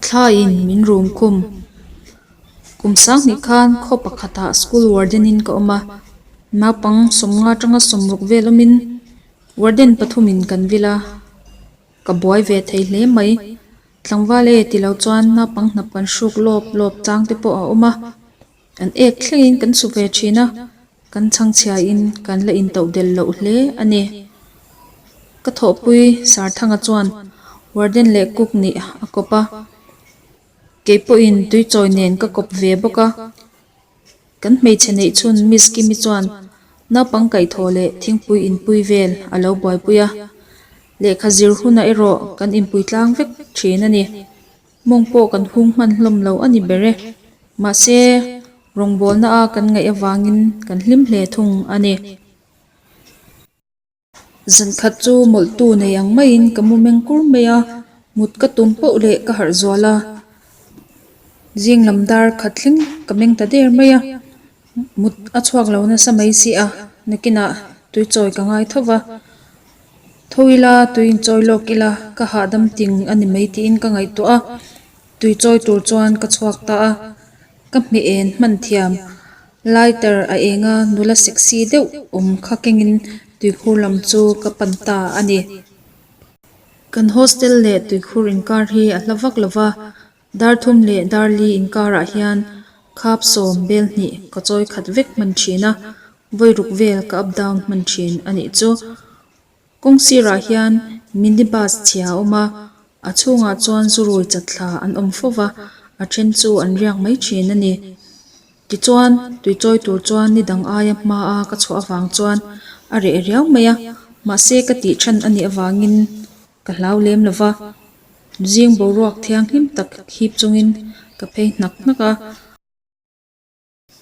Thlaiin min rum khum. Kum sang hnih khan khaw pakhatah school warden in ka awm a, naupang sawmnga tanga sawm ruk vel awmin warden pathumin kan vil a. Ka buai ve thei hle mai. Tlangval e ti lo chuan naupang hnap kan hruk lawp lawp chang te pawh a awm a, kan ek thlengin kan suh ve thin a, kan chhangchhiah in kan la in toh del loh hle a ni. Ka thawhpui Sarthanga chuan Warden leh Cook nih a kawp a, kei pawhin tuichawi nen ka kawp ve bawk a. Kan hmeichhe neih chhun Miss Kimi chuan naupang kaihthawh leh thingpui inpui vel a lo buaipui a, lehkha zir huna erawh kan inpui tlang vek thin a ni. Mawng pawh kan hung hman hlawm lo a ni ber e, mahse rawngbawlna a kan ngaih avangin kan hlim hle thung a ni. Zan khat chu mawlhtu nei ang maiin ka mu meng kur mai a, mut ka tum poh leh ka harh zual a, zing lam dar khat thleng ka meng ta der mai a, mut a chhuak lo nasa mai si a, nakinah tui chawi ka ngai tho va, tho ila tui in chawi lawk ila ka hahdam ting a ni mai tiin ka ngaihtuah a, tui chawi tur chuan ka chhuak ta a, ka hme en hman thiam. Lighter a eng a nula sexy deuh awm kha kengin tuikhur lam chu ka pan ta a ni. Kan hostel leh tuikhur inkar hi a hla vak lo va, Darthum leh Darli inkarah hian khap sawm bel hnih ka chawi khat vek hman thin a, vawi ruk vel ka up down hman thin a nih chu. Kawng sirah hian mini bus chhia a awm a, a chhungah chuan zurui chat thla an awm fo va, a then chu an riak mai thin a ni. Tichuan, tui chawi tur chuan ni dang aia hma a ka chhuah avang chuan a reh riau mai a, mahse ka tih than a nih avangin ka hlau lem lo va, zing boruak thianghlim tak hip chungin ka phei hnak hnak a.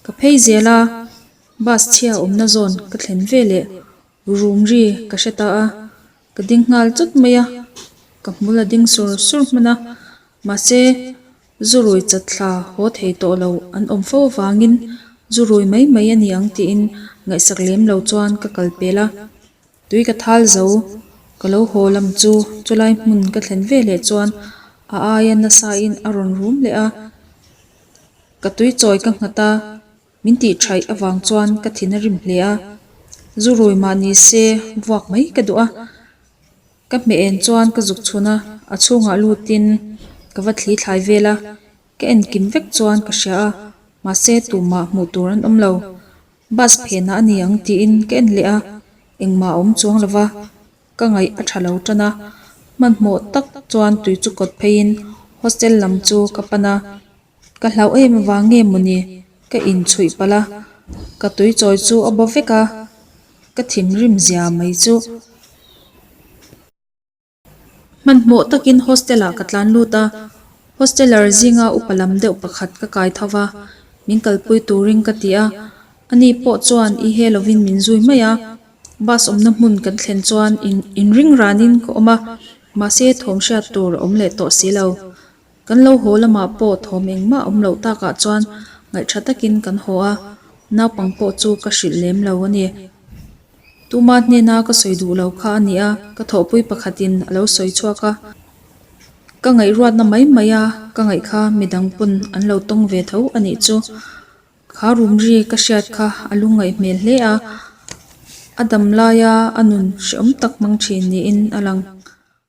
Ka phei zel a, bus chhia awmna zawn ka thlen ve leh rum ri ka hre ta a, ka ding nghal chawt mai a, ka hmul a ding sur sur hman a, mahse zu rui chat thla haw thei tawh lo an awm fo avangin zu rui mai mai a ni ang tiin ngaihsak lem lo chuan ka kal pel a, Tui ka thal zo ka lo haw lam chu chulai hmun ka thlen ve leh chuan a aia nasa in a rawn rum leh a, ka tui chawi ka nghat a, min tih thaih avang chuan ka thin a rim hle a, zu rawi mah ni se vuak mai ka duh a, ka hme en chuan ka zuk chhun a, a chhungah lut in ka va thli thlai vel a, ka en kim vek chuan ka hria a, mahse tumah hmuh tur an awm lo. Bus phenah a ni ang tiin ka en leh a, engmah a awm chuang lova ka ngaih a tha lo tan a, hmanhmawh tak chuan tui chu kawt pheiin hostel lam chu ka pan a, ka hlauh em avang nge mawni ka inchhuih palh a, ka tui chawi chu a baw vek a, ka thim rim zia mai chu. Hmanhmawh takin hostel-ah ka tlan lut a, hosteller zinga upa lam deuh pakhat ka kai tho va, min kalpui turin ka ti a, ani pawh chuan i he lovin min zui mai a, bus awmna hmun kan thlen chuan in inringranin ka awm a, mahse thawm hriat tur awm leh tawh si lo. Kan lo haw lamah pawh thawm engmah awm loh takah chuan ngaih tha takin kan haw a, naupang pawh chu ka hrilh lem lo a ni. Tuma hnena ka sawi duh lo kha a ni a, ka thawhpui pakhatin a lo sawi chhuak a, ka ngaihruatna mai mai a, ka ngaih kha midang pawn an lo tawng ve tho a nih chu. Kha rumri ka hriat kha a lu ngaih hmel hle a, a dam laia a nun hreawm tak hmang thin niin a lang.